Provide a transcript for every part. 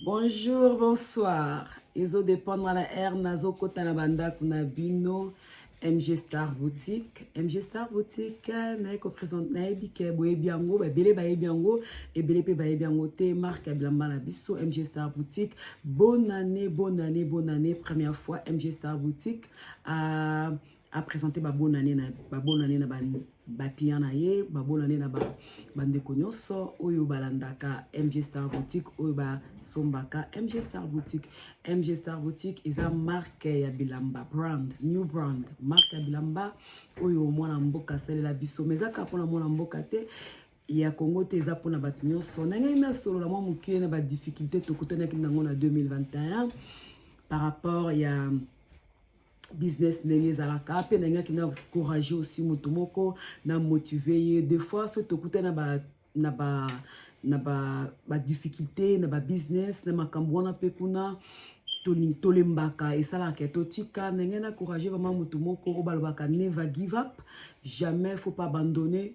Bonjour, bonsoir. Ezo dépendre la air nazo kota na bandako na bino. MG Star Boutique. MG Star Boutique, naye ko présente naye bike boyebi yango, ba bele bayebi yango, ebele pe bayebi yango te marque bilamba na biso MG Star Boutique. Bonne année, bonne année, bonne année. Première fois MG Star Boutique. Euh, a présenter ba bonne année na ba bonne année na ba, ba client na ye ba bonne année na ba bandeko nyonso oyo balandaka MG Star Boutique oyo basombaka MG Star Boutique MG Star Boutique eza marque ya bilamba brand new brand marque ya bilamba oyo mwana mboka asalela biso mais ezaka mpona mwana mboka te ya congo te eza mpona bato nyonso nangei nasolola mwa mokie na badifficulté tokutanaki nango na 2021 par rapport ya business ndenge ezalaka mpe nalingaki na courage aussi moto moko na motive ye de fois so tokuta na ba na ba na ba, ba difficulté na ba business na makambo wana mpe kuna tolembaka esalaka totika ndenge na courage vraiment moto moko oyo balobaka never give up jamais faut pas abandonner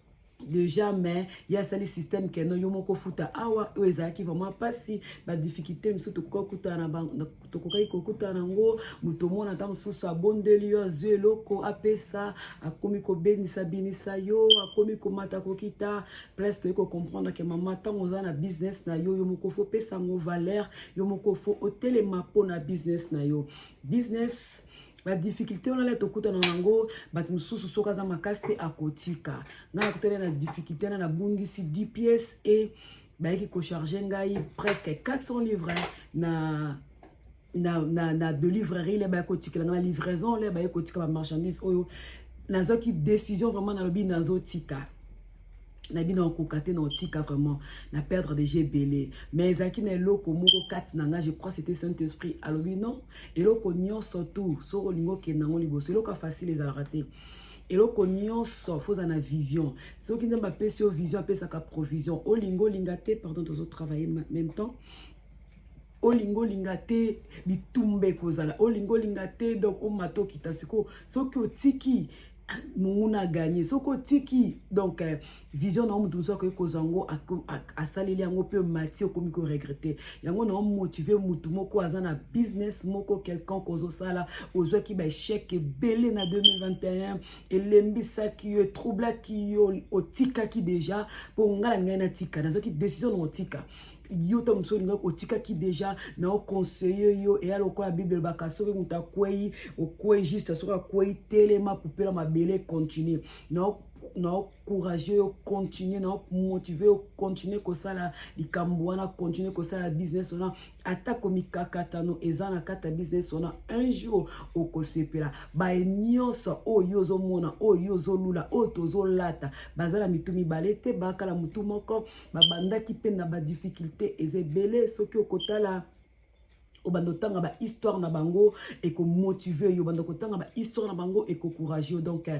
deja mais ye asali système keno yo moko futa awa oyo ezalaki vraiment mpasi badifficulté mosusu tokokaki kokutana tokokaki kokutana yango moto omona ata mosusu abondeli yo azwi eloko apesa akomi kobenisa binisa yo akomi komata kokita place toyei kocomprendre ke mama ntango oza na business na yo yo moko fo opesa yango valeur yo moko fo otelema mpo na business na yo business ba difficulté wana le tokutana na yango bato mosusu soki aza makasi te akotika ngai nakutana na difficulté wana nabungisi 10 pièces e bayaki kocharge ngai presque 400 livre na na, na, na de livrerie le bayaki kotikela ngai na livraison le bayaki kotika bamarchandise oyo nazwaki décision vraiment nalobi nazotika na bino akokoka te na otika vraiment na perdre déjà ebele mais ezalaki na eloko moko kati na ngai je crois c'était saint esprit alobi non eloko nyonso tout soki olingi okenda yango liboso eloko ya facile ezalaka te eloko nyonso fo oza na vision soki nzambe apesi yo vision apesaka provision olingi olinga te pardon tozotravaille même temps olingi olinga te bitumba ekozala olingi olinga te donc omata okita sikoyo soki otiki ah, monguna aganye soki otiki donc eh, vision na yo moto mosusu akoki kozwa yango asaleli yango mpe mati okomi koregrete yango na omotive motu moko aza na business moko quelconque ozosala ozwaki baechec ebele na 2021 elembisaki yo etroublaki yo otikaki deja mpo ngai na ngai natika nazwaki décision na otika yo ntango mosusu olingaki otikaki deja na oconseille yo eya lokola bible elobaka soki moto akwei okwei juste soki akwei telema pupela mabele continue na na ocourage yo continue na omotive yo continue kosala likambo wana continue kosala business wana atako mikakatano eza na kati ya business wana un jour okosepela baye nyonso oyo yo ozomona oyo yo ozolula oyo tozolata baza na mitu mibale te bakala motu moko babandaki mpe na badifficulte eza ebele soki okotala obanda otanga bahistoire na bango ekomotive yo obanda kotanga bahistoire na bango ekocourage yo donc euh,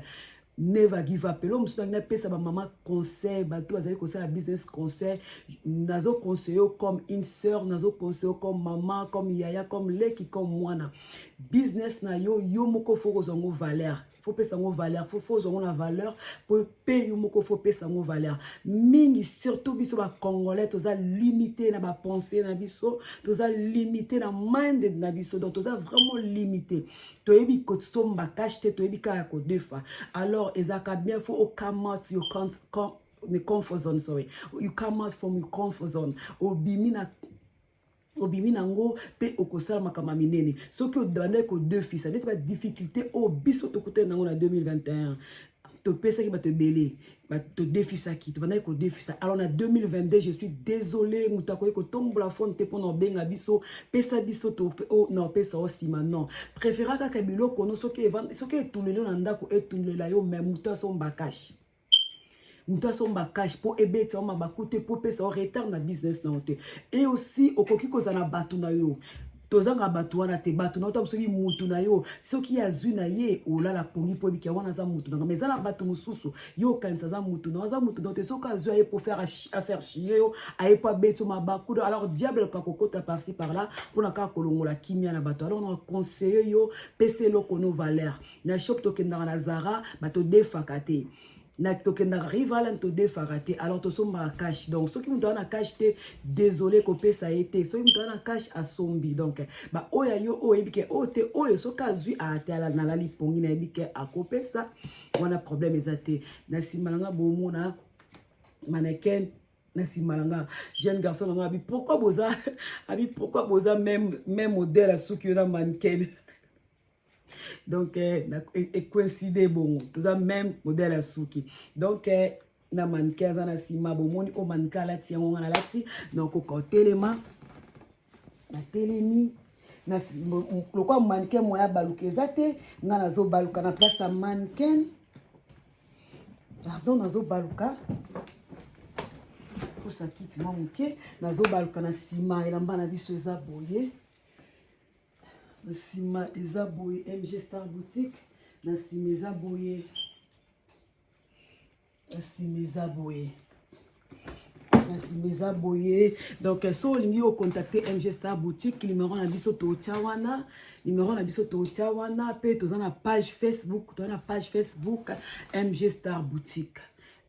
never give up eloo mosusu nangi napesa bamama conseil bato bazali kosala business conseil nazo conseille yo comme une sœur nazo conseille yo comme mama comme yaya comme leki comme mwana business na yo yo moko fo kozwa yango valeur faut pesa ngo valeur faut faut zongo na valeur pour payer moko faut pesa ngo valeur mingi surtout biso ba congolais toza limité na ba pensée na biso toza limité na minded na biso donc toza vraiment limité toyebi ko somba cash te toyebi ka ko defa alors ezaka bien faut au come out you can't come the comfort zone sorry you come out from your comfort zone obimi na obimi na yango mpe okosala makambo ya minene soki obandaki kodefisa neti badifficulté oyo biso tokutani na yango na 2021 topesaki bato ebele todefisaki tobandaki kodefisa alors na 2022 je suis désolé moto akoki kotombola fone te mpona obenga biso pesa biso oh, na opesa o nsima non préféra kaka biloko no soki etuleli yo na ndako etulela yo mai moto asomba kashe moto asomba cash mpo ebeta yo mabaku te mpo epesa yo retard na business na yo te e aussi okoki kozala na bato na yo tozanga bato wana te bato na yo ntango soki motu na yo soki azwi na ye olala pongi mpo ebiki wana aza motu na nga ma eza na bato mosusu yo okanisa aza motu na yo aza motu na yo te soki azwi aye mpo faire affaire chie yo aye mpo abeti yo mabaku do alors diable ka kokota parci par là mpo na kaka kolongola kimia na bato alors na conseille yo pesa eloko no valeur na shop tokendaka na zara batodefaka te na tokendaka rivalan todefaka te alors tosombaka cash donc soki moto aza na cash te désolé kopesa ye te soki moto aza na cash asombi donc baoyo ya yo oyo oyebi ke oyo oh, te oyo soki azwi atala nalali pongi nayebi ke akopesa wana problème eza te na nsima na nga bomona mannequin na nsima na nga jeune garçon na nga abi pourquoi boza abi pourquoi boza même même modèle asuki yo na mannequin donc eh, ecoincide e bongo toza même modèle ya suki donc eh, na manike aza na nsima bomoni oyo manike alati yango nga nalati nakoka otelema natelemi lokola manike moya abaluka eza te nga nazobaluka na place ya manken pardon nazobaluka kosa kiti mwa moke nazobaluka na nsima elamba na biso eza boye na nsima eza boye mg star boutique na nsima eza boye na nsima eza boye na nsima eza boye donc eh, so olingi ocontacte mg star boutique numero na biso totya wana numero na biso totya wana mpe toza na page facebook toza na page facebook mg star boutique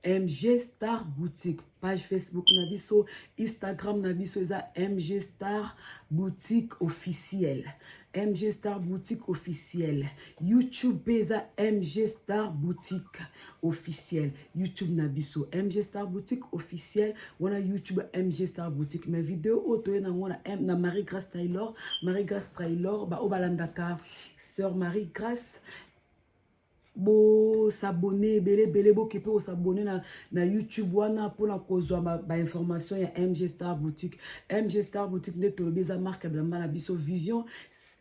MG Star Boutique page Facebook na biso Instagram na biso eza MG Star Boutique officiel MG Star Boutique officiel YouTube mpe eza MG Star Boutique officiel YouTube na biso MG Star Boutique officiel wana YouTube MG Star Boutique mais video oyo toye nango na, na Marie Grace Taylor Marie Grace Taylor baoyo balandaka Sœur Marie Grace bo s'abonner ebele ebele boke pe ko s'abonner na na YouTube wana pona kozwa ba, ba information ya MG Star Boutique. MG Star Boutique nde tolobi eza marque ya bilamba na biso vision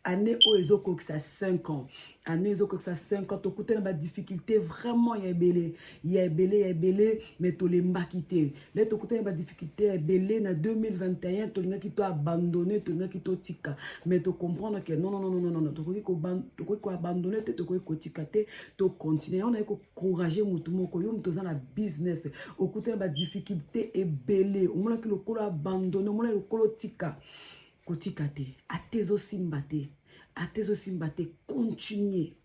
année oyo ezokokisa 5 ans année ezokokisa 5 ans tokutana ba difficulté vraiment ya ebele ya ebele ya ebele mais tolembaki te le tokutani ba difficulté ya ebele na 2021 tolingaki to abandonne tolingaki totika mais tocomprendre ke nonnnnn tokoki koabandonne te tokoki kotika te tocontinue yango naye kocourage motu moko yo moto oza na business okutani ba difficulté ebele omonaki lokolo abandonne omonaki lokolo otika kotika te ata ezosimba te ata ezosimba te continue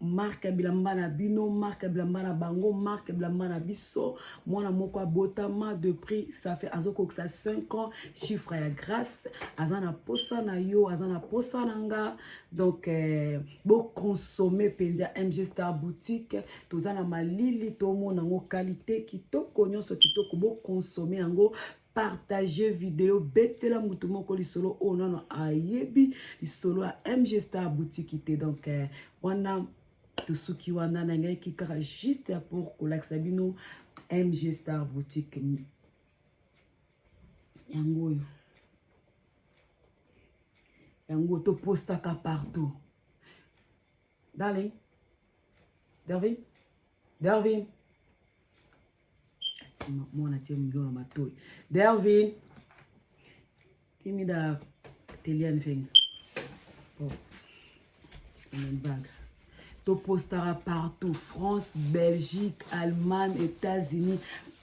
marke ya bilamba na bino marke ya bilamba na bango marke ya bilamba na biso mwana moko abotama de prix ça fait azokokisa 5 ans chiffre ya grace aza na posa na yo aza na posa na nga donc eh, boconsomme mpenza mg star boutique toza na malili tomona yango kalite kitoko nyonso kitoko boconsomme yango partage video betela moto moko lisolo oyo nano ayebi lisolo ya mg star boutique te donc eh, wana tosuki wana nangaki kaka juste ya pour kolakisa bino mg star boutique yango oyo yango topostaka partout darling darvin darvin mwana tie milio na matoi delvin kimida telian fenza post baga topostaka partout france belgique allemagne états-unis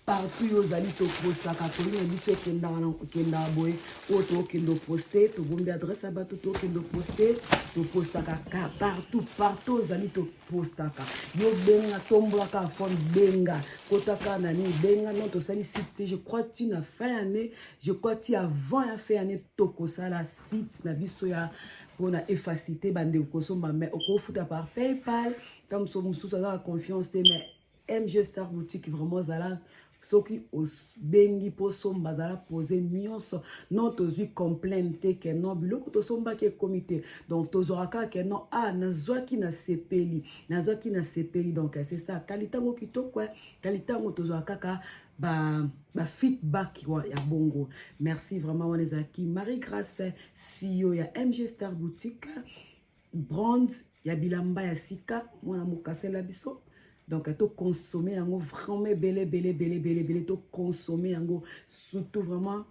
partout yo ozali topostaka toli na biso ekendaka boye oyo tokende oposte tobombi adresse ya bato tokende oposte topostaka partout partout ozali tokende postaka yo benga tombolaka phone benga kotaka na nini benga non tosali site te je crois ti na fin année je crois ti avant ya fin année tokosala site na biso ya mpona efacilité bandeko kosomba mais okofuta par paypal ntango mosusu aza na confiance te mais MG Star Boutique vraiment zala soki obengi mpo somba azala pose nyonso non tozwi complaine te ke non biloko tosombaki ekomi te donc tozwaka kaka ke non ah nazwaki na sepeli nazwaki na sepeli donc c'est ça kalitango kitoko kalitango tozwaka kaka ba, ba feedback ya bongo merci vraiment wana ezalaki marie grace siyo ya mg star boutique brand ya bilamba ya sika mwana mokasela biso donc to consommer yango vraiment ebele ebele ebele ebele ebele to consommer yango surtout vraiment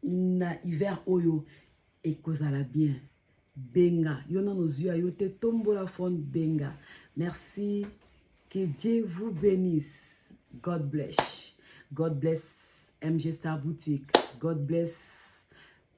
na hiver oyo ekozala bien benga yo nano ozwi ya yo te tombola phone benga merci que dieu vous bénisse god bless god bless mg star boutique god bless